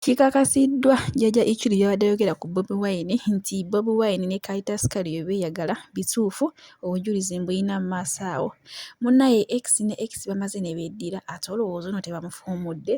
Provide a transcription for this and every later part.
Kikakasiddwa Jjajja Ichuli byabadde ayogera ku Bobi Wine nti Bobi Wine ne Kayita Sukali bye beeyagala bituufu obujulizi mbuyina mu maaso awo. Munnaye X ne X bamaze ne beddira ate olowooza ono tebamufuumudde?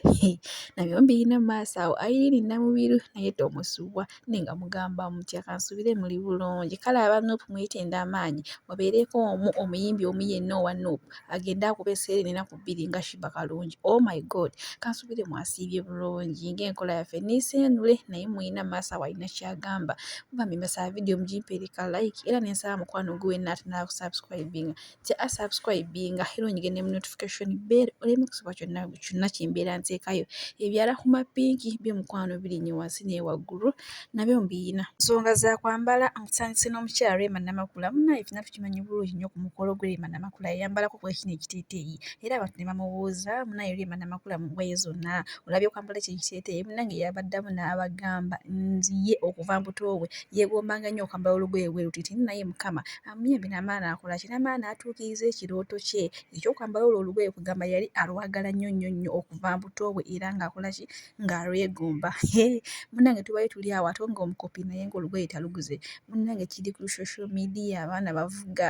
Nabyo mbiyina mu maaso awo. Irene Namubiru naye tomusubwa. Naye nga mugamba mutya kansubire muli bulungi kale aba Nup mwetenda amaanyi mubeereko omu omuyimbi omu yenna owa Nup agende akube seenene enaku bbiri nga Sheebah Kalungi oh my God kansubire mwasiibye bulungi ng'enkola yaffe niiseenule naye mulina maaso awo alina ky'agamba mugambye mbasaba vidiyo mugimpe eriko like era ne nsaba mukwano guwe Natt n'akusubscribinga kya a subscribinga era onyige ne mu notification bell oleme kusubwa kyonna kyonna kyembeera nteekayo ebyala ku mapinki byo mukwano birinye wansi naye waggulu nabyo mbiyina nsonga za kwambala nsandise n'omukyala Rema Namakula munaye fina tukimanyi bulungi nnyo ku mukolo gwe Rema Namakula yayambalako ku ekino ekiteeteeyi era abantu ne bamubuuza munaye Rema Namakula mu ngoye zonna olabye okwambala ekyo ekiteeteeyi munange yabaddamu n'abagamba nziye okuva mbuto bwe yegombanga nnyo okwambala olugoye bwe lutiti naye mukama Amyee binamala nakola kinamala natuukiriza ekirooto kye ekyokwambala olwo olugoye kugamba yali alwagala nnyo nnyo nnyo okuva mbuto bwe era ng'akola ki ng'alwegomba hee munnange tubadde tuli awo ate ng'omukopi naye ng'olugoye taluguze munnange kiri ku social media abaana bavuga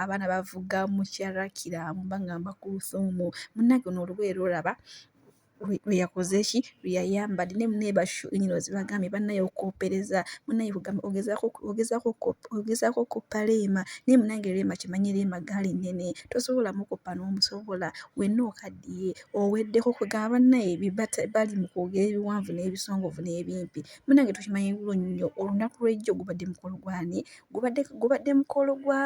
abaana bavuga mukyala kiraamo bangamba kuluthum munnange luno olugoye lwolaba lwe yakoze ki lwe yayambadde naye munaye bashu nyini ozibagambye banaye okoopereza munaye kugamba ogezaako ogezaako ogezaako okoppa Rema naye munange Rema kimanye Rema gaali nnene tosobola mukoppa n'omusobola wenna okaddiye oweddeko kwegamba banaye bibata bali mu kwogera ebiwanvu n'ebisongovu n'ebimpi munange tukimanyi bulungi nnyo olunaku lw'ejjo gubadde mukolo gwani gubadde gubadde mukolo gwa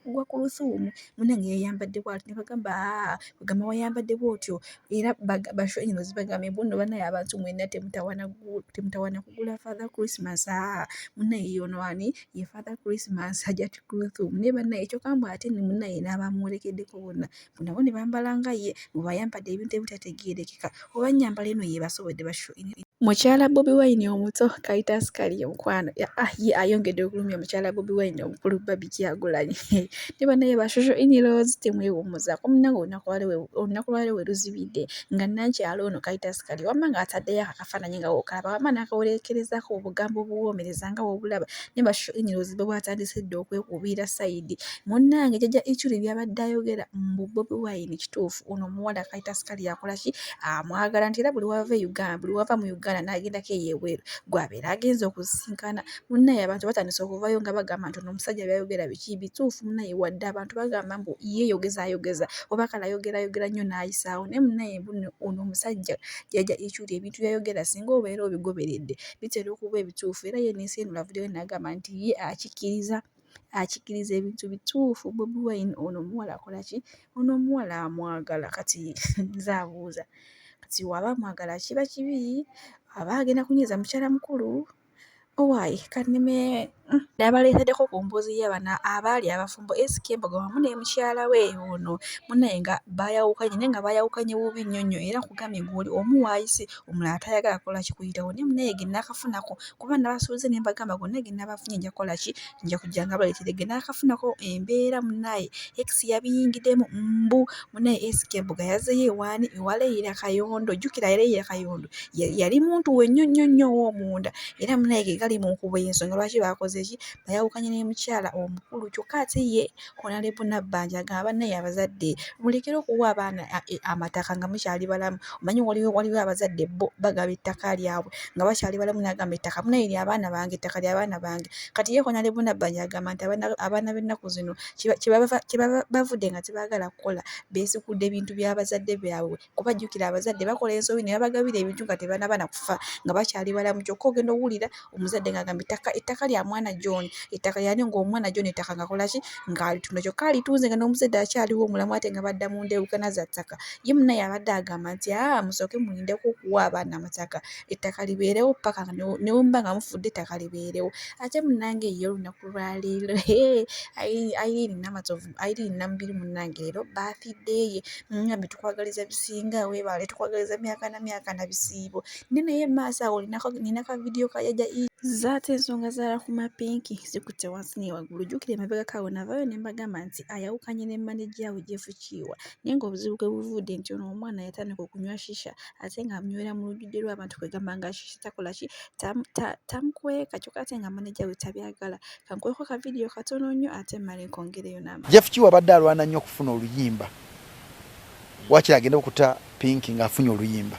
gwa kulusuumu munange yayambadde bwati ne bagamba bagamba wayambadde bwotyo era basho eno zibagambye mbu nno banaye abantu mwena temutawana temutawana kugula father christmas aa munaye yono ani ye father christmas hajati kuluthum naye banaye kyoka mbu ate ne munaye n'abamwolekeddeko bonna nabo ne bambala nga ye mu bayambadde ebintu ebitategeerekeka oba nnyambala eno yeebasobodde basho Mukyala Bobi Wine omuto Kaitas Kaliyo mukwano ah, ye ayongedde okulumya mukyala Bobi Wine omukulu Babi Kyagulanyi ne banaye ba social in-laws temwewummuzaako munnange olunaku lwaleero we luzibidde nga nankyalo ono Kaitas Kaliyo wamma ng'ataddeyo akafaananyi nga wokalaba wamma n'akawereekerezaako obugambo obuwoomereza nga wobulaba naye bashinyira ozibe bwatandise dda okwekubiira sayidi munnange jajja ichuli byabadde ayogera mbu bobi wine kituufu ono omuwala kayita sikali yakola ki amwagala nti era buli wava e uganda buli wava mu uganda n'agendako eyebweru gwabeera agenza okusisinkana munnaye abantu batandise okuvayo nga bagamba nti ono omusajja byayogera biki bituufu munnaye wadde abantu bagamba mbu yeyogeza ayogeza oba kala ayogera ayogera nnyo n'ayisaawo naye munnaye mbuno ono omusajja jajja ichuli ebintu byayogera singa obeera obigoberedde bitera okuba ebituufu era ye n'ensi eno avuddeyo n'agamba nti ye akikkiriza akikkiriza ebintu bituufu bobi wine ono omuwala akola ki ono omuwala amwagala kati nze abuuza kati waba amwagala kiba kibi aba agenda kunyiiza mukyala mukulu owaye kanime Nabaleetedeko ku mboozi y'abana abaali abafumbo SK Mbogo wamu ne mukyala we ono munaye nga bayawukanye naye nga bayawukanye bubi nnyo nnyo era nkugambye gwoli omu waayise omulala tayagala kola kikuyitawo naye munaye ge nakafunako kuba nabasuubiza ne mbagamba gonna ge nabafunye nja kola ki nja kujja nga baleetere ge nakafunako embeera munaye ex yabiyingidemu mbu munaye SK mbuga yazeyo ewaani ewa Leila Kayondo jukira Leila Kayondo yali muntu wenyo nyo nyo owomunda era munaye gegali munkubo yensonga lwaki bakoze ki bayawukanye ne mukyala omukulu kyokka ate ye Honorable Nabbanja agamba banaye abazadde mulekere okuwa abaana amataka nga mukyali balamu omanyi waliwo waliwo abazadde bo bagaba ettaka lyabwe nga bakyali balamu nagamba ettaka munaye lya abaana bange ettaka lya abaana bange kati ye Honorable Nabbanja agamba nti abaana b'ennaku zino kyebaba bavudde nga tebaagala kukola beesikuudde bintu bya bazadde baabwe kuba jjukira abazadde bakola ensobi ne babagabira ebintu nga tebanaba na kufa nga bakyali balamu kyokka ogenda owulira omuzadde ng'agamba ettaka ettaka lya mwana John ettaka lyani ng'omwana John ettaka ngakola ki ng'alitunda kyokka alitunze nga n'omuzadde akyaliwo omulamu ate nga badda mu ndeewukana za ttaka ye munaye abadde agamba nti aa musooke mulindeko okuwa abaana amataka ettaka libeerewo paka newemuba nga mufudde ettaka libeerewo ate munange ye olunaku lwaleero ayirini namatovu ayirini namubiri munange leero baathideeye ngambe tukwagaliza bisinga webaale tukwagaliza myaka na myaka na bisiibo ne naye maaso awo ninaka vidiyo kajaja zaate ensonga zala ku mapinki zikutte wansi naye waggulu jjukira emabega kawo navayo ne mbagamba nti ayawukanye ne maneja we jefukiiwa naye ngaobuzibu kwe buvudde nti ono omwana yatandika okunywa shisha ate nga munywera mu lujjudde lw'abantu kwegamba nga shishi takola ki tamukweka kyokka ate nga maneja we tabyagala kankweko ka vidiyo katono nnyo ate mmale nkongereyo namba jeff kiwa abadde alwana nnyo okufuna oluyimba wakira agenda okuta pinki ng'afunye oluyimba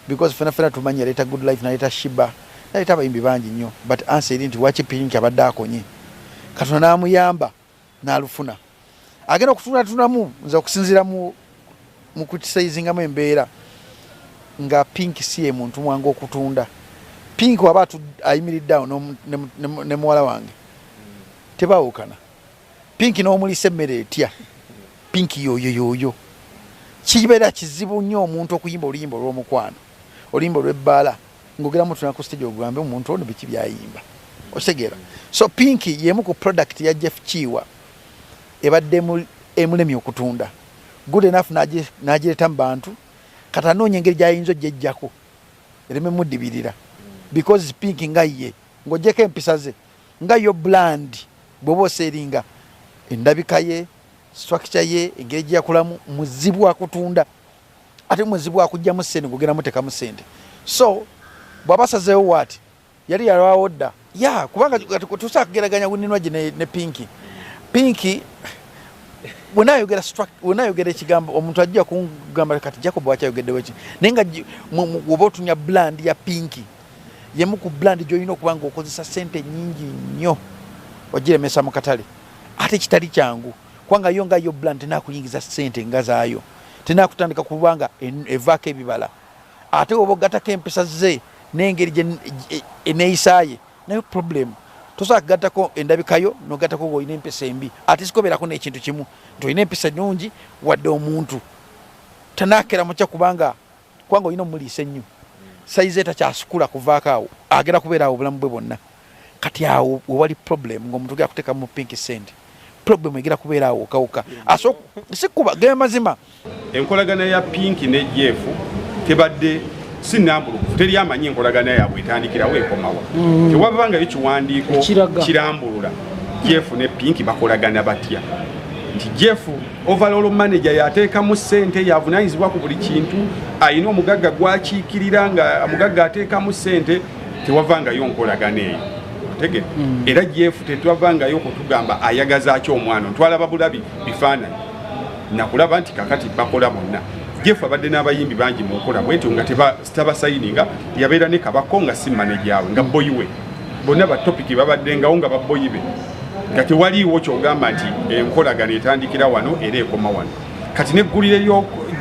because fena fena tumanyi yaleeta good life naleeta shiba naleeta abayimbi bangi nnyo but ansa eri nti waki pinki abadde akonye katonda n'amuyamba nalufuna agenda okutunatunamu nze okusinzira mukukisaizingamu embeera nga pink si ye muntu mwange okutunda pink waba ayimiridde awo ne muwala wange tebawukana pink n'omulisa emmere etya pink yoyo yoyo kibeera kizibu nnyo omuntu okuyimba oluyimba olw'omukwano oluyimba olw'ebbaala ngogera mutuna ku stage ogambe omuntu ono biki byayimba okitegera so pink yemu ku product ya jeff kiwa ebadde emulemi okutunda good enough nagireta mu bantu kati anoonya engeri gyayinza ojjejjako ereme mudibirira because pink nga ye ng'ojjeko empisa ze nga yo bland bwoba oseringa endabika ye structure ye engeri gyeyakulamu muzibu akutunda ate mwezi bwakujjamu sente gugenda mutekamu sente so bwabasazeewo waati yali yalwawo dda ya kubanga tusa kugeraganya ninwaji ne, ne pinki pinki wenayogera wenayogera ekigambo omuntu ajja kugamba kati jacob wakyayogeddeweki naye nga oba otunya bland ya pinki yemu ku bland gyolina okuba nga okozesa sente nyingi nnyo ogiremesa mu katale ate kitali kyangu kubanga yo nga yo bland nakuyingiza sente nga zaayo tenakutandika kuba nga evaako ebibala ate oba ogatako empisa ze nengeri eneyisaye e, nayo problemu tosobola kugattako endabikayo nogattako nga olina empisa embi ate sikobeerako nekintu kimu nti olina empisa nungi wadde omuntu tanakera mukya kubanga kubanga olina omuliisa ennyo sayizi etakyasukula kuvaako awo agenda kubeera awo obulamu bwe bwonna kati awo wewali problem ngaomuntu gera kuteeka mu pink send problem egera kubeera awo okawuka sikuba ge mazima enkolagana ya pink ne jef tebadde si nambulukufu teri amanyi enkolagana yaabwe etandikirawo ekomawa mm. tewaba ngayo kiwandiiko kirambulula jef ne pink bakolagana batya nti jef Overall manager yateekamu ssente yavunaanyizibwa ku buli kintu alina omugagga gwakiikirira nga omugagga ateekamu ssente tewavangayo nkolagana eyo tege mm. era jefu tetwavangayo kutugamba ayagaza aki omwana ntwalaba bulabi bifaananyi nakulaba nti kakati bakola bonna jefu abadde n'abayimbi bangi mu nkola bwetyo nga sitaba sayininga yabeera ne kabako nga si manejaawe nga boyi we bonna batopiki babaddengawo nga baboyi be nga tewaliiwo kyogamba nti enkolagana etandikira wano era ekoma wano kati neggulire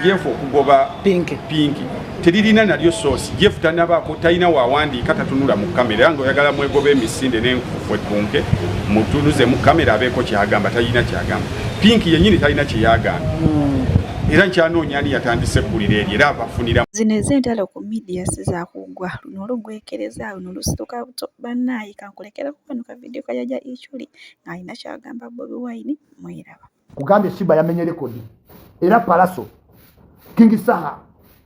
jefu okugoba pinki teririna nalyo soosi jefu tanabaako talina wawandiika tatunula mu kamera era nga oyagala mwegoba emisinde nenkufu ekunke mutunuze mu kamera abeeko kyagamba talina kyagamba pinki yenyini talina kyeyagamba hmm. era nkyanoonya ani yatandise eggulire eryo era abafunira zino ez'entalo ku midiya si zakuggwa luno olugwekereza luno lusituka buto bannaayi kankulekerako kano ka vidiyo kajaja iculi ng'alina kyagamba bobi wine mwiraba kugambye shiba yamenye rekodi era palaso kingi saha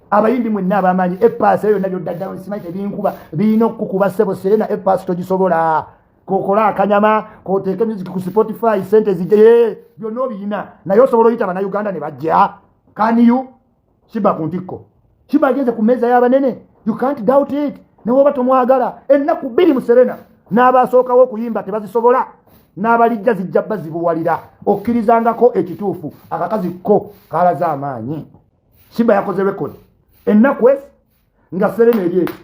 abayindi mwenna abamanyi epaasi eyo yonna byoddaddala simanyi tebinkuba birina okukuba sebo serena epaasi togisobola kokola akanyama koteeke music ku spotify sente zijee byonna obiyina naye osobola oyita banauganda ne bajja kaniyu kiba ku ntikko kiba agenze ku meeza y'abanene you can't doubt it newoba tomwagala ennaku bbiri mu serena n'abaasookawo okuyimba tebazisobola n'abalijja zijja bazibuwalira okkirizangako ekituufu akakazi ko kalaze amaanyi simba yakoze rekodi ennaku esi nga serena eri ekyo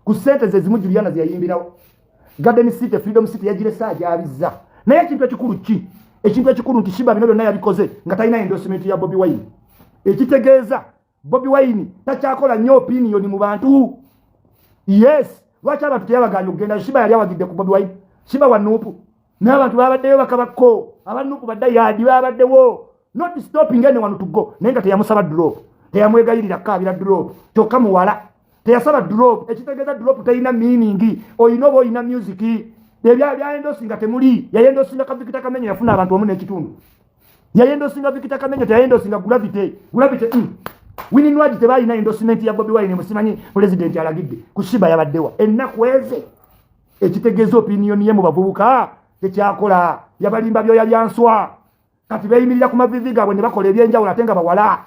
ku sente zezimu juliana zeyayimbirawo garden city freedom city yagirese agyabizza naye ekintu ekikulu ki ekintu ekikulu nti shiba bino byonna yabikoze nga talina endorsement ya bobi wine ekitegeeza bobi wine takyakola nnyo opiniyoni mu bantu yes lwaki abantu teyabaganya okugenda shiba yali awagidde ku bobi wine shiba wanuupu n'abantu babaddeyo bakabakko abanuku badda yaadi babaddewo not stopping anyone to go naye nga teyamusaba drop teyamwegayirira kaabira drop kyokka muwala teyasaba drop ekitegeeza drop terina meaning olina oba olina music ebyayendosi nga temuli yayendosi nga kavikita kamenya yafuna abantu wamu n'ekitundu yayendosi nga vikita kamenya teyayendosi nga gravity gravity mm. wininwagi tebalina endosimenti ya bobi wine musimanyi pulezidenti alagidde kusiba yabaddewa ennaku eze ekitegeeza opiniyoni ye mu bavubuka tekyakola yabalimba byoya byanswa kati beeyimirira ku mavivi gaabwe ne bakola ebyenjawulo ate nga bawala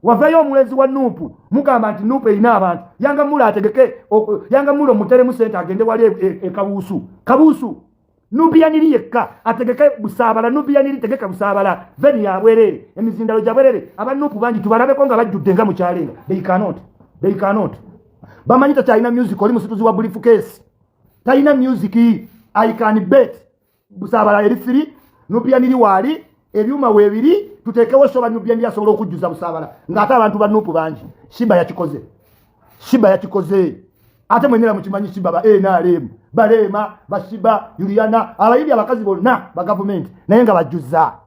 wavayo omulenzi wa nuupu mugamba nti nuupu erina abantu yanga mula ategeke yanga mula omuteremu sente agende wali e, e, e kabuusu kabuusu nubiyaniri yekka ategeke busaabala nubiyaniri tegeka busaabala veni yabwerere emizindalo gyabwerere abanuupu bangi tubalabeko nga bajjudde nga mukyalenga they cannot they cannot bamanyi tati alina music oli musituzi wa bulifu kesi talina music i can bet busabala eri firi nupianiri waali ebyuma webiri tutekewo soba nupianiri asobola okujjuza busabala ngaate abantu ba nupu bangi shiba yakikoze shiba yakikoze ate mwenera mukimanyi shiba ba nrm baleema bashiba yuliana abayindi abakazi bonna bagavumenti naye nga bajjuza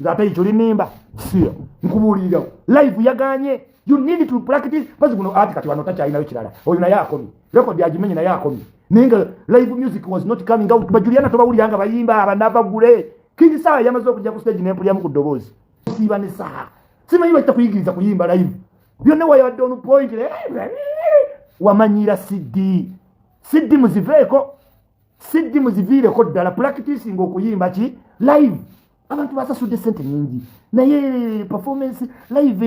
nze ate ekyo linimba siya nkubuulirirawo live yaganye you need to practice bazi guno ati kati wano takyalinayo kirala oyo naye akomye rekodi agimenye naye akomye naye nga live music was not coming out bajuliana tobawulira nga bayimba abanava gule kingi sawa yamaze okujja ku stage nempulyamu ku ddoboozi siba ne saha simanyi bakita kuyigiriza kuyimba live byonna wayabadde onu point wamanyiira cd cd muziveeko siddi muziviireko ddala pulakitisinga okuyimba ki live abantu basasudde sente nyingi naye performance live